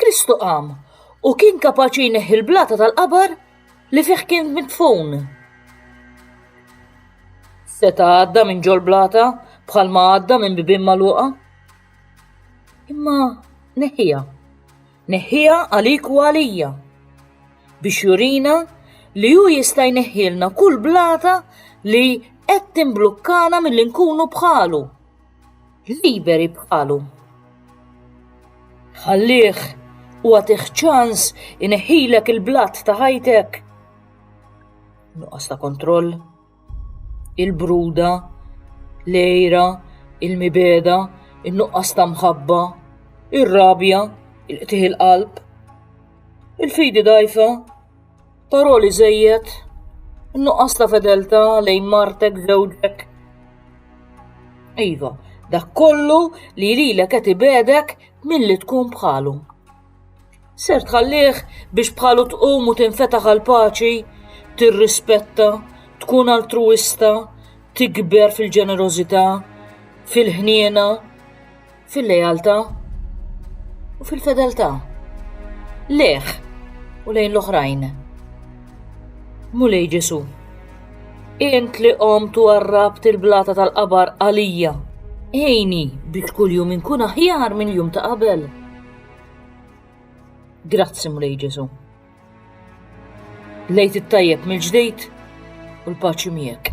Kristu qam u kien kapaċi jneħħi l-blata tal-qabar li fih kien mitfun. Seta għadda minn ġol blata bħalma għadda minn bibin maluqa. Imma neħija. Neħija għalik u għalija. Biex jurina li ju jista' jneħħilna kull blata li qed timblukkana mill-inkunu bħalu. liberi bħalhom. Ħallih u għatih ċans ineħilek il-blat ta' ħajtek. Nuqqas ta' kontroll, il-bruda, lejra, il-mibeda, il-nuqqas ta' mħabba, ir-rabja, il-qtih il-qalb, il-fidi dajfa, Paroli żejjed, nuqqas ta' fedeltà lejn martek żewġek. Iva, dak kollu li lilek qed ibedek milli tkun bħalu. Ser tħallih biex bħalu tqum u tinfetaħ għal paċi, tirrispetta, tkun altruista, tikber fil-ġenerożità, fil-ħniena, fil-lealtà u fil-fedeltà lejh u lejn l-oħrajn. Mulej Ġesu, int li qomt u għarrabt il-blata tal-qabar għalija, ejni biex kuljum inkun aħjar mill-jum ta' qabel. Grazzi Mulej Ġesu. Lejt it-tajjeb mill-ġdid u l-paċi miegħek.